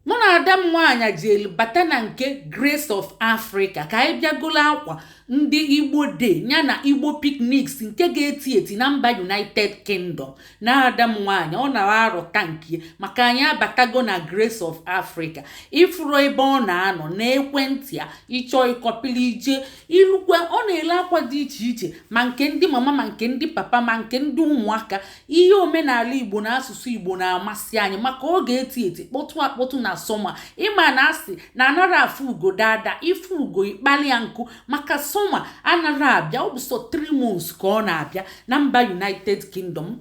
mụ na ada m nwaanyị jelu bata na nke grace of africa ka anyị bịa golo akwa ndị igbo day ya na igbo picnics nke ga-eti eti na mba united kingdom na ada m nwaanyị ọ na-arọta nke maka anyị abatago na grace of africa ị fụrụ ebe ọ na-anọ na ekwentị ya ị chọọ ị kọpili ije ilukwe ọ na-ele akwa dị iche iche ma nke ndị mama ma nke ndị papa ma nke ndị ụmụaka ihe omenala igbo na asụsụ igbo na-amasị anyị maka ọ ga-eti eti kpọtụ akpọtụ na summer ị ma na asị na anara afụ ugo daa daa ị fụ ugo ị kpali ya nku maka summer anara abịa ọ bụ sọ 3 months ka ọ na-abịa na mba united kingdom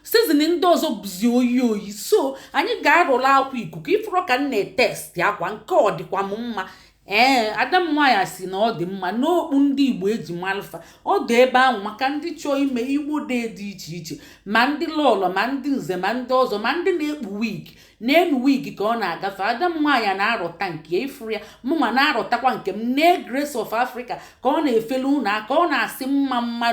season ndị ọzọ bụzi oyi oyi so anyị ga-arọla akwa ikuku ị fụrụ ka m na-etesti akwa nke ọ dịkwa m mma ee ada m nwaanyị si na ọ dị mma n'okpu ndị igbo eji malụ fa ọ dị ebe ahụ maka ndị chọọ ime igbo day dị iche iche ma ndị lọlọ ma ndị nze ma ndị ọzọ ma ndị na-ekpu wig n'elu wig ka ọ na-agafe ada m nwaanyị na-arọta nke ị fụrụ ya mụnwa na-arọtakwa nke m nee grace of africa ka ọ na-efele unu aka ọ na-asị mma mma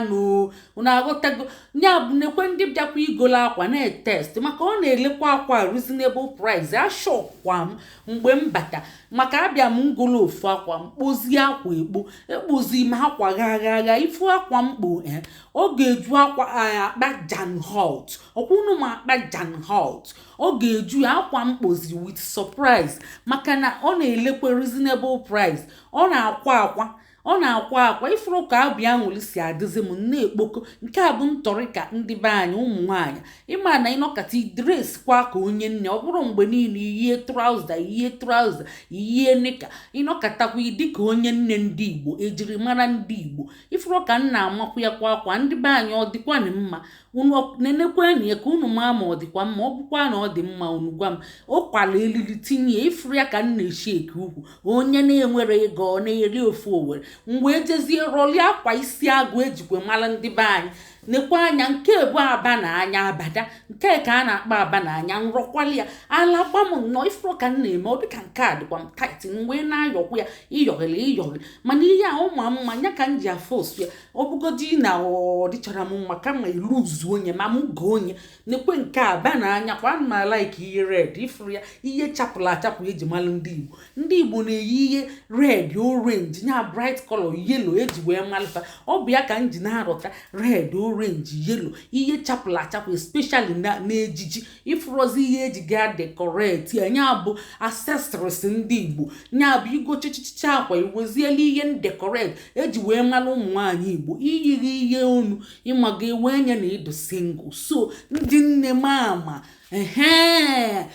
unu aghọtago ya bụ nekwe ndị bịakwa igolo akwa na-etest maka ọ na-elekwa akwa reasonable price ashọkwa m mgbe m bata maka abịa m ngolo ofu akwa m kpozie akwa ekpo ekpozi m akwa gha gha gha ị fụ akwa m kpo e ọ ga-eju akwa akpa john holt ọkwa unu ma akpa john holt ọ ga-eju ya akwa m kpozi with surprise maka na ọ na-elekwa reasonable price ọ na-akwa akwa ọ na-akwa akwa ị fụrụ ka obi anwụlị si adịzi m na-ekpoko nke a bụ ntọrịka ndị be anyị ụmụ nwaanyị ị ma na ị nọkata i dresikwa ka onye nne ọ bụrọ mgbe niile i yie trouser i yie trouser i yie nika ị nọkatakwa ị dị ka onye nne ndị igbo ejiri mara ndị igbo ị fụrụ ka m na-amakwa ya kwa akwa ndị be anyị ọ dịkwanị mma unu nenekwenụ ya ka unu maa ma ọ dịkwa mma ọ bụkwa na ọ dị mma unu gwa m ọ kwala elili tinye ya ị fụrụ ya ka m na-eshake ukwu onye na-enwerọ ego ọ na-eri ofe owere m wee jezie rọlie akwa isi agụ ejikwe mara ndị be anyị nekwe anya nke bụ aba na anya abada nke ka a na-akpọ aba na anya nrọkwala ya ala gwa m nnọọ ị fụrụ ka m na-eme ọ dịka nke a dịkwa m tight mgbe na-ayọkwa ya ịyọghịrị ịyọghịrị mana ihe a ọ ma mma ya ka m ji afụ ụsọ ya ọ bụgodị na ọ dịchara m mma kama iluzu onye ma m goo onye nekwe nke aba na anya kwa ma like ihe red ị fụrụ ya ihe chapụla achapụ eji malụ ndị igbo ndị igbo na-eyi ihe red orange nya bright color yellow eji wee malụ fa ọ bụ ya ka m ji na-arọta red orange yellow ihe chapụla achapụ especially na n'ejiji ifrozi ihe eji ga decorate ya nya bụ accessories ndị igbo nya bụ ị gochichicha akwa iweziela ihe ndekoret eji wee mara ụmụ nwaanyị igbo iyiri ihe onu ịmaga ewe nya na ị dụ single so ndị nne mama ee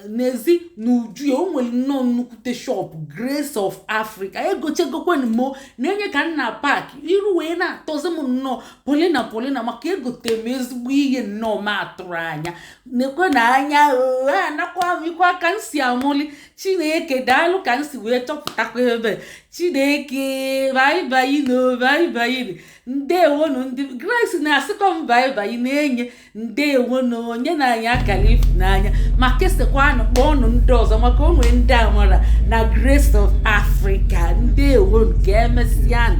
n'ezi n'uju ya o nwere nnọọ nnukwute shop grace of africa egochagokwanụ m o na-enye ka m na pak iru wee na-atọzi m nnọọ polina polina maka egote m ezigbo ihe nnọọ m atụrụ anya nekwanụ anya o anakwa m ikwa ka m si amụli chineke daalụ ka m si wee chọpụtakwa ebe chineke baibai nụ o baibai ndewonu ndị grace na-asịkọ m baibai Nenye ndewo na onye na anyị akara ifu n'anya ma kesakwanụ kpọọnụ ndị ọzọ maka o nwere ndị a nwara na Grace of Africa ndewonu ka emesịanụ